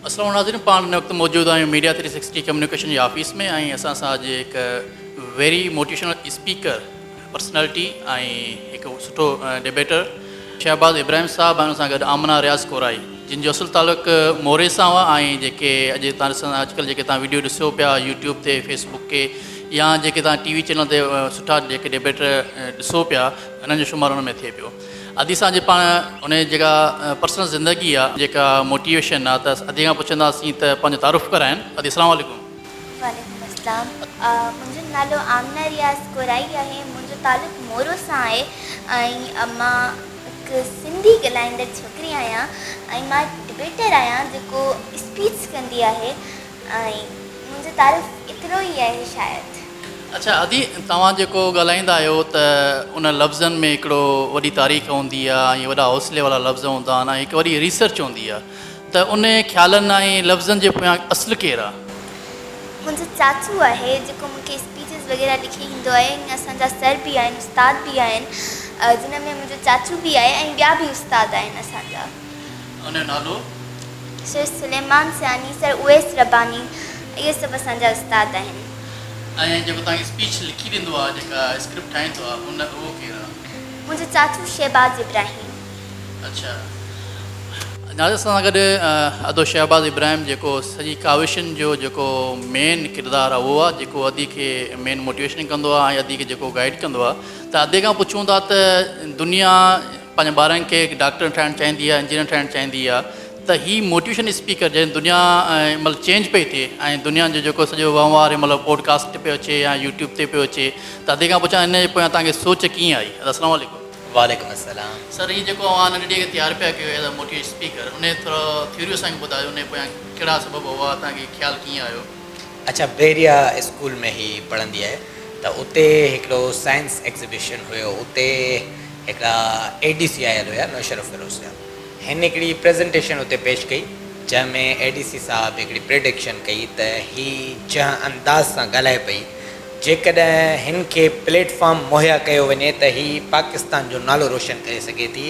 السلام ناظرين پاڻ هن وقت موجود آهيون ميڊيا ٿري سڪسٽي ڪميونيڪيشن جي آفيس ۾ ۽ اسان سان اڄ هڪ ويري موٽيوشنل اسپيڪر پرسنالٽي ۽ هڪ سٺو ڊيبيٽر شهباز ابراهيم صاحب ۽ ان سان گڏ آمنه رياض ڪورائي جن جو اصل تعلق موري سان هو ۽ جيڪي اڄ تان ڏسن اڄ ڪلهه جيڪي تان ويڊيو ڏسيو پيا يوٽيوب تي فيس بڪ تي يا جيڪي تان ٽي وي چينل تي سٺا جيڪي ڊيبيٽر ڏسو پيا انهن جو شمار ان ۾ ٿئي پيو ادي اسان جي پاڻ ان جي جيڪا پرسنل زندگي آ جيڪا موٽيويشن آ ته ادي کان پڇنداسين ته پنهنجو تعارف ڪرائين ادي السلام عليڪم. وعليڪم السلام منهنجو نالو آمنه رياض ڪورائي آهي منهنجو تعلق مورو سان آهي ۽ مان هڪ سنڌي ڳالهائيندڙ ڇوڪري آهيان ۽ مان ڊبيٽر آهيان جيڪو اسپيچ ڪندي آهي ۽ منهنجو تعارف ايترو ئي آهي شايد. اڇا ادي توهان جيڪو ڳالهائيندا آهيو ته ان لفظن ۾ هڪڙو وڏي تاريخ هوندي آهي ۽ وڏا حوصلي وارا لفظ هوندا آهن ۽ هڪ وڏي ريسرچ هوندي آهي ته ان خيالن ۽ لفظن جي پويان اصل ڪير آهي؟ منهنجو چاچو آهي جيڪو مون کي اسپيچز وغيره لکي ڏيندو آهي ۽ اسان جا سر به آهن استاد به آهن جنهن ۾ منهنجو چاچو به آهي ۽ ٻيا به استاد آهن اسان جا. ان جو نالو. شيخ سليمان سياني سر اويس رباني اهي سڀ اسان جا استاد آهن. ۽ جيڪو توهان کي اسپيچ لکي ڏيندو آهي جيڪا اسڪرپٽ ٺاهيندو آهي هن اهو ڪير آهي؟ منهنجو چاچو شهباز ابراهيم. اڇا ناظر سان سان گڏ ادو شهباز ابراهيم جيڪو سڄي ڪاوشن جو جيڪو مين ڪردار آهي اهو آهي جيڪو ادي کي مين موٽيويشن ڪندو آهي ۽ ادي کي جيڪو گائيڊ ڪندو آهي ته ادي کان پڇون ٿا ته دنيا پنهنجن ٻارن کي ڊاڪٽر ٺاهڻ چاهيندي آهي انجنيئر ٺاهڻ چاهيندي آهي ته هي موٽيوشن اسپيڪر جنهن دنيا ۽ مطلب چينج پئي ٿئي ۽ دنيا جو جيڪو سڄو وهنوار هي مطلب پوڊڪاسٽ تي پيو اچي يا يوٽيوب تي پيو اچي ته ادي کان پڇان ان جي پويان توهان کي سوچ ڪيئن آئي ادا اسلام عليڪم. وعليڪم السلام سر هي جيڪو اوهان ننڍي ٽيء کي تيار پيا ڪيو ايز ا موٽيوش اسپيڪر ان جي ٿورو ٿيوري اسان کي ٻڌايو ان جي پويان ڪهڙا سبب هئا توهان کي خيال ڪيئن آيو. اڇا بحريا اسڪول ۾ هي پڙهندي آهي ته اتي هڪڙو سائنس ايگزيبيشن هيو اتي هڪڙا اي ڊي سي آيل هيا نوشهر فيروز جا هن هڪڙي پريزنٽيشن اتي پيش ڪئي جنهن ۾ اي ڊي سي صاحب هڪڙي پريڊڪشن ڪئي ته هي جنهن انداز سان ڳالهائي پئي جيڪڏهن هن کي پليٽ فارم مهيا ڪيو وڃي ته هي پاڪستان جو نالو روشن ڪري سگهي ٿي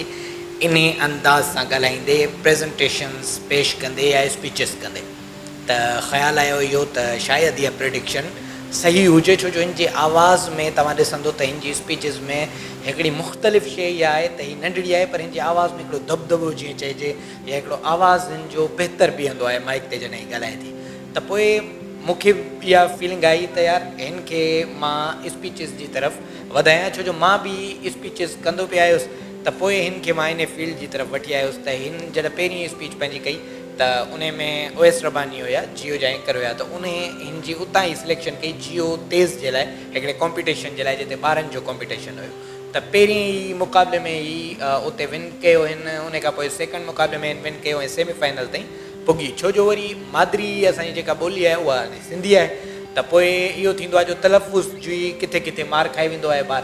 انهي انداز سان ڳالهائيندي پريزنٽيشنز پيش ڪندي يا اسپيچز ڪندي. ته خيال آيو اهو ته شايد اها پريڊڪشن صحيح هجي ڇو جو هن جي آواز ۾ توهان ڏسندو ته هن جي اسپيچز ۾ هڪڙي مختلف شيء اها آهي ته هي ننڍڙي آهي پر هن جي آواز ۾ هڪڙو دٻدٻو جيئن چئجي يا هڪڙو آواز هن جو بهتر بيهندو آهي مائيڪ تي جڏهن هي ڳالهائي ٿي ته پوء مون کي اها فيلنگ آئي ته يار هن کي مان اسپيچز جي طرف وڌايان ڇو جو مان به اسپيچز ڪندو پئي آيس ته پوء هن کي مان انهي فيلڊ جي طرف وٺي آيس ته هن جڏهن پهرين اسپيچ پنهنجي ڪئي ته انهي ۾ اويس رباني هيا جيو جا اينڪر هيا ته انهي هن جي اتان ئي سليڪشن ڪئي جيو تيز جي لاء هڪڙي ڪامپيٽيشن جي لاء جتي ٻارن جو ڪامپيٽيشن هيو ته پهرين ئي مقابلي ۾ هي اتي ون ڪيو هن انهي کان پوء سيڪنڊ مقابلي ۾ هن ون ڪيو ۽ سيمي فائنل تائين پڳي ڇو جو وري مادري اسان جي جيڪا ٻولي آهي اها سنڌي آهي ته پوء اهو ٿيندو آهي جو تلفظ جي ڪٿي ڪٿي مار کائي ويندو آهي ٻار.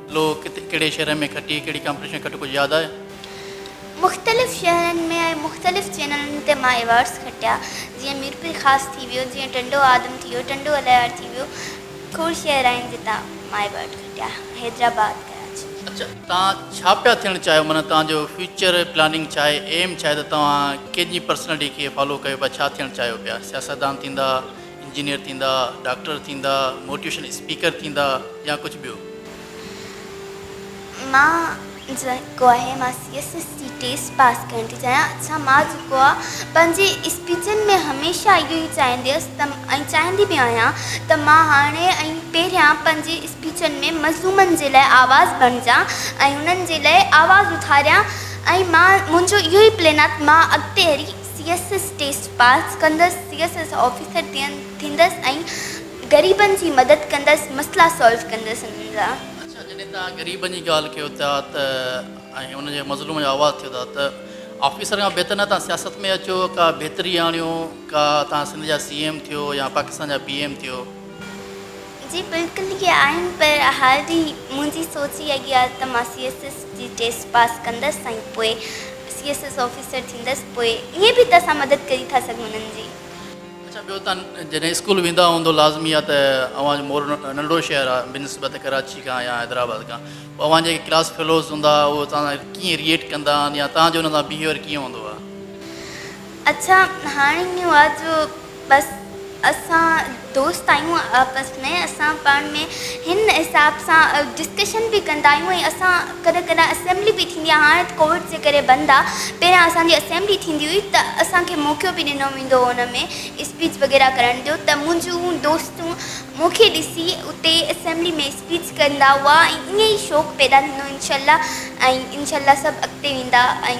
لو، ڪٿي ڪهڙي شهر ۾ کٽي ڪهڙي ڪامپٽيشن کٽ ڪجهه ياد آهي؟ مختلف شهرن ۾ ۽ مختلف چينلن تي مان ايوارڊز کٽيا جيئن ميرپور خاص ٿي ويو جيئن ٽنڊو آدم ٿي ويو ٽنڊو الهيار ٿي ويو کوڙ شهر آهن جتان مان ايوارڊ کٽيا حيدرآباد ڪراچي. اڇا توهان ڇا پيا ٿيڻ چاهيو معنيٰ توهان جو فيوچر پلاننگ ڇا آهي ايم ڇا آهي ته توهان ڪنهن جي پرسنالٽي کي فالو ڪيو پيا ڇا ٿيڻ چاهيو پيا سياستدان ٿيندا انجنيئر ٿيندا، ڊاڪٽر ٿيندا، موٽيوشن اسپيڪر ٿيندا يا ڪجهه ٻيو. مان جيڪو آهي مان سي ايس ايس جي ٽيسٽ پاس ڪرڻ ٿي چاهيان اڇا مان جيڪو آ پنهنجي اسپيچن ۾ هميشه اهو ئي چاهيندي هيس ته ۽ چاهيندي به آهيان ته مان هاڻي ۽ پهريان پنهنجي اسپيچن ۾ مظلومن جي لاء آواز بڻجان ۽ انهن جي لاء آواز اٿاريان ۽ مان منهنجو اهو ئي پلين آ ته مان اڳتي هلي C S S test pass ڪندس سي ايس ايس آفيسر ٿيندس ۽ غريبن جي مدد ڪندس مسئلا سالو ڪندس انهن جا. اڇا جڏهن توهان غريبن جي ڳالهه ڪيو ٿا ته ۽ ان جي مظلوم جو آواز ٿيو ٿا ته آفيسر کان بهتر نه توهان سياست ۾ اچو ڪا بهتري آڻيو ڪا توهان سنڌ جا سي ايم ٿيو يا پاڪستان جا پي ايم ٿيو. جي بلڪل اهي آهن پر هر ڏينهن منهنجي سوچ اها ئي آهي ته مان سي ايس ايس جي ٽيسٽ پاس ڪندس ۽ پوء سي ايس ايس آفيسر ٿيندس پوء ائين به ته اسان مدد ڪري ٿا سگهون انهن جي. اڇا ٻيو تان جڏهن اسڪول ويندا هوندو لازمي آهي ته اوهان جو مور ننڍڙو شهر آهي بنسبت ڪراچي کان يا حيدرآباد کان پوء اوهان جيڪي ڪلاس فيلوز هوندا اهي توهان سان ڪيئن ريئيٽ ڪندا آهن يا توهان جو انهن سان بيهيويئر ڪيئن هوندو آهي. اڇا هاڻي اهو آهي جو بس اسان دوست آهيون آپس ۾ اسان پاڻ ۾ هن حساب سان ڊسڪشن به ڪندا آهيون ۽ اسان ڪڏهن ڪڏهن اسيمبلي به ٿيندي آهي هاڻي ته ڪووڊ جي ڪري بند آهي پهريان اسان جي اسيمبلي ٿيندي هئي ته اسان کي موقعو به ڏنو ويندو هو ان ۾ اسپيچ وغيره ڪرڻ جو ته منهنجون دوستون مون کي ڏسي اتي اسيمبلي ۾ اسپيچ ڪندا هئا ۽ ائين ئي شوق پيدا ٿيندو انشاء الله ۽ انشاء الله سڀ اڳتي ويندا ۽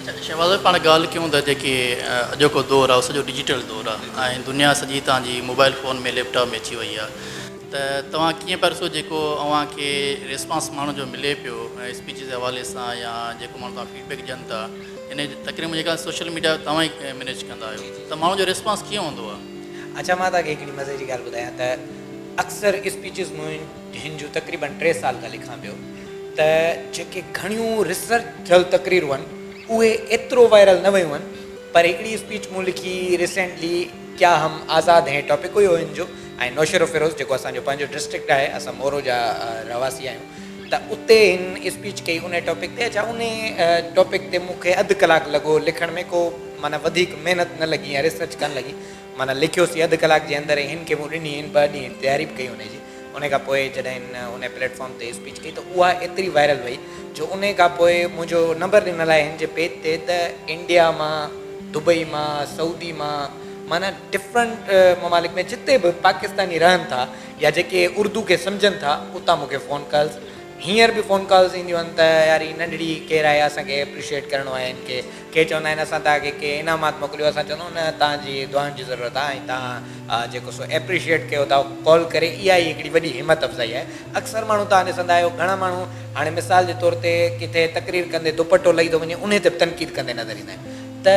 اچا شهباز ڀائي پاڻ ڳالهه ڪيون ته جيڪي اڄوڪو دور آهي اهو سڄو ڊجيٽل دور آهي ۽ دنيا سڄي تان جي موبائل فون ۾ ليپ ٽاپ ۾ اچي وئي آهي ته توهان ڪيئن پيا ڏسو جيڪو اوهان کي ريسپانس ماڻهن جو ملي پيو اسپيچز جي حوالي سان يا جيڪو ماڻهو توهان فيڊ بيڪ ڏين ٿا ان جي تقريب ۾ جيڪا سوشل ميڊيا توهان ئي مينيج ڪندا آهيو ته ماڻهن جو ريسپانس ڪيئن هوندو آهي؟ اچا مان توهان کي هڪڙي مزي جي ڳالهه ٻڌايان ته اڪثر اسپيچز مون هن جون تقريبن ٽي سال کان لکان پيو ته جيڪي گهڻيون ريسرچ ٿيل تقريرون هن اهي ايترو وائرل نه ويون هن پر هڪڙي اسپيچ مون لکي ريسينٽلي ڪيا هم آزاد هين ٽاپڪ هيو هن جو ۽ نوشهروفيروز جيڪو اسان جو پنهنجو ڊسٽرڪٽ آهي اسان مورو جا رهواسي آهيون ته اتي هن اسپيچ ڪئي انهي ٽاپڪ تي اڇا انهي ٽاپڪ تي مون کي اڌ ڪلاڪ لڳو لکڻ ۾ ڪو معنيٰ وڌيڪ محنت نه لڳي ۽ ريسرچ ڪانه لڳي معنيٰ لکيوسين اڌ ڪلاڪ جي اندر ۽ هن کي مون ڏني هن ٻه ڏينهن تياري به ڪئي انهي جي انهي کان پوء جڏهن هن انهي پليٽ فارم تي اسپيچ ڪئي ته اها ايتري وائرل وئي جو انهي کان پوء منهنجو نمبر ڏنل آهي هن جي پيج تي ته انڊيا مان دبئي مان سعودي مان معنيٰ ڊفرنٽ ممالڪ ۾ جتي به پاڪستاني رهن ٿا يا جيڪي اردو کي سمجهن ٿا اتان مون کي فون ڪالز هينئر به فون ڪالز اينديون آهن ته يار هي ننڍڙي ڪير آهي اسان کي ايپريشيئيٽ ڪرڻو آهي هن کي ڪي چوندا آهن اسان توهان کي ڪي انعامات موڪليو اسان چوندو نه توهان جي دعائن جي ضرورت آهي ۽ توهان جيڪو سو ايپريشيئيٽ ڪيو ٿا ڪال ڪري اها ئي هڪڙي وڏي همت افزائي آهي اڪثر ماڻهو توهان ڏسندا آهيو گهڻا ماڻهو هاڻي مثال جي طور تي ڪٿي تقرير ڪندي دوپٽو لهي ٿو وڃي انهي تي به تنقيد ڪندي نظر ايندا آهن ته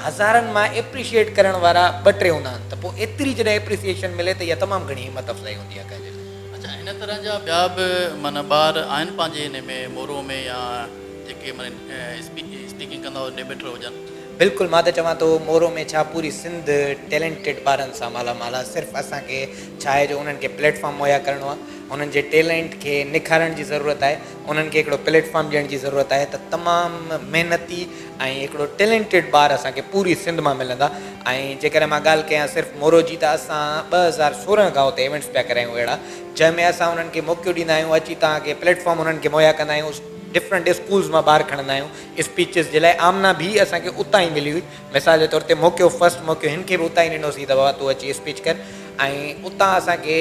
هزارن مان ايپريشيئيٽ ڪرڻ وارا ٻه ٽي هوندا آهن ته پوء ايتري جڏهن ايپريسيئيشن ملي ته اها تمام گهڻي همت افزائي هوندي آهي ڪنهن جي لاء. اڇا ان طرح جا ٻيا به معنيٰ ٻار آهن پنهنجي انهي ۾ مورو ۾ يا. جيڪي اسپيڪنگ ڪندا هجن ڊيبيٽر هجن. بلڪل مان ته چوان ٿو مورو ۾ ڇا پوري سنڌ ٽيلينٽيڊ ٻارن سان مالا مال آ صرف اسان کي ڇا آهي جو انهن کي پليٽ فارم مهيا ڪرڻو آ انهن جي ٽيلينٽ کي نکارڻ جي ضرورت آهي انهن کي هڪڙو پليٽ فارم ڏيڻ جي ضرورت آهي ته تمام محنتي ۽ هڪڙو ٽيلينٽيڊ ٻار اسان کي پوري سنڌ مان ملندا ۽ جيڪڏهن مان ڳالهه ڪيان صرف مورو جي ته اسان ٻه هزار سورهن کان اتي ايونٽس پيا ڪرايون اهڙا جنهن ۾ اسان انهن کي موقعو ڏيندا آهيون اچي توهان کي پليٽ فارم انهن کي مهيا ڪندا آهيون ڊفرنٽ اسڪولز مان ٻار کڻندا آهيون اسپيچز جي لاء آمنه ڀي اسان کي اتان ئي ملي هئي مثال جي طور تي موقعو فرسٽ موقعو هن کي به اتان ئي ڏنوسي ته بابا تون اچي اسپيچ ڪر ۽ اتان اسان کي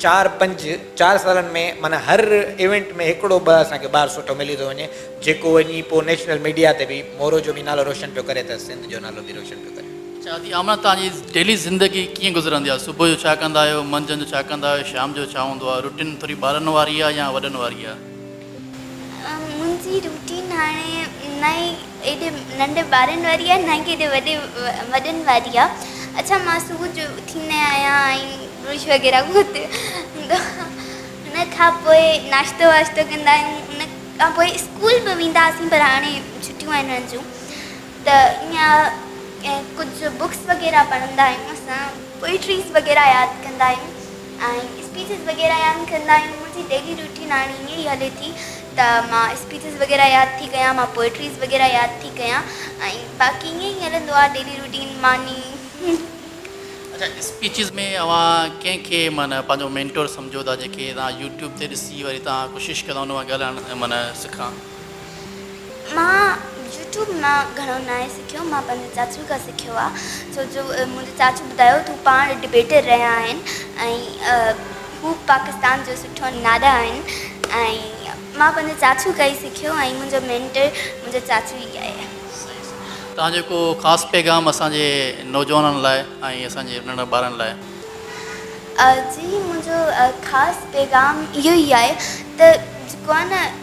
چار پنج چار سالن ۾ معنيٰ هر ايونٽ ۾ هڪڙو ٻه اسان کي ٻار سٺو ملي ٿو وڃي جيڪو وڃي پوء نيشنل ميڊيا تي به مورو جو به نالو روشن پيو ڪري ته سنڌ جو نالو به روشن پيو ڪري. اچا دادي آمنه توهان جي ڊيلي زندگي ڪيئن گذرندي آهي صبح جو ڇا ڪندا آهيو منجهند جو ڇا ڪندا آهيو شام جو ڇا هوندو آهي روٽين ٿوري ٻارن واري آهي يا وڏن واري آهي. منهنجي روٽين هاڻي نه ئي ايڏي ننڍي ٻارن واري آهي نه ئي ڪيڏي وڏي وڏن واري آهي اڇا مان صبح جو اٿيندي آهيان ۽ برش وغيره ڪندو ان کان پوء ناشتو واشتو ڪندا آهيون ان کان پوء اسڪول به وينداسين پر هاڻي ڇٽيون آهن هنن جون ته ايئن ڪجهه بوڪس وغيره پڙهندا آهيون اسان پوئٽريز وغيره ياد ڪندا آهيون ۽ اسپيچز وغيره ياد ڪندا آهيون منهنجي ڊيلي روٽين هاڻي ايئن ئي هلي ٿي ته مان اسپيچز وغيره ياد ٿي ڪيان مان پوئٽريز وغيره ياد ٿي ڪيان ۽ باقي ايئن ئي هلندو آهي ڊيلي روٽين ماني اڇا اسپيچز ۾ اوهان ڪنهن کي معنيٰ پنهنجو مينٽور سمجهو ٿا جنهن کي توهان يوٽيوب تي ڏسي وري توهان ڪوشش ڪندا ان وانگر ڳالهائڻ معنيٰ سکان. مان يوٽيوب مان گهڻو ناهي سکيو مان پنهنجي چاچو کان سکيو آ ڇو جو منهنجي چاچو ٻڌايو ته هو پاڻ ڊبيٽر رهيا آهن ۽ هو پاڪستان جو سٺو نادا آهن ۽ مان پنهنجي چاچو کان ئي سکيو ۽ منهنجو مينٽر منهنجو چاچو ئي آهي. صحيح صحيح توهان جو ڪو خاص پيغام اسان جي نوجوانن لاء ۽ اسان جي ننڍڙن ٻارن لاء. جي منهنجو خاص پيغام اهو ئي آهي ته جيڪو آهي نه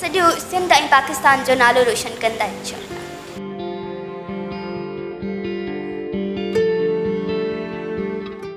سڄو سنڌ ۽ پاڪستان جو نالو روشن ڪندا انشاء الله.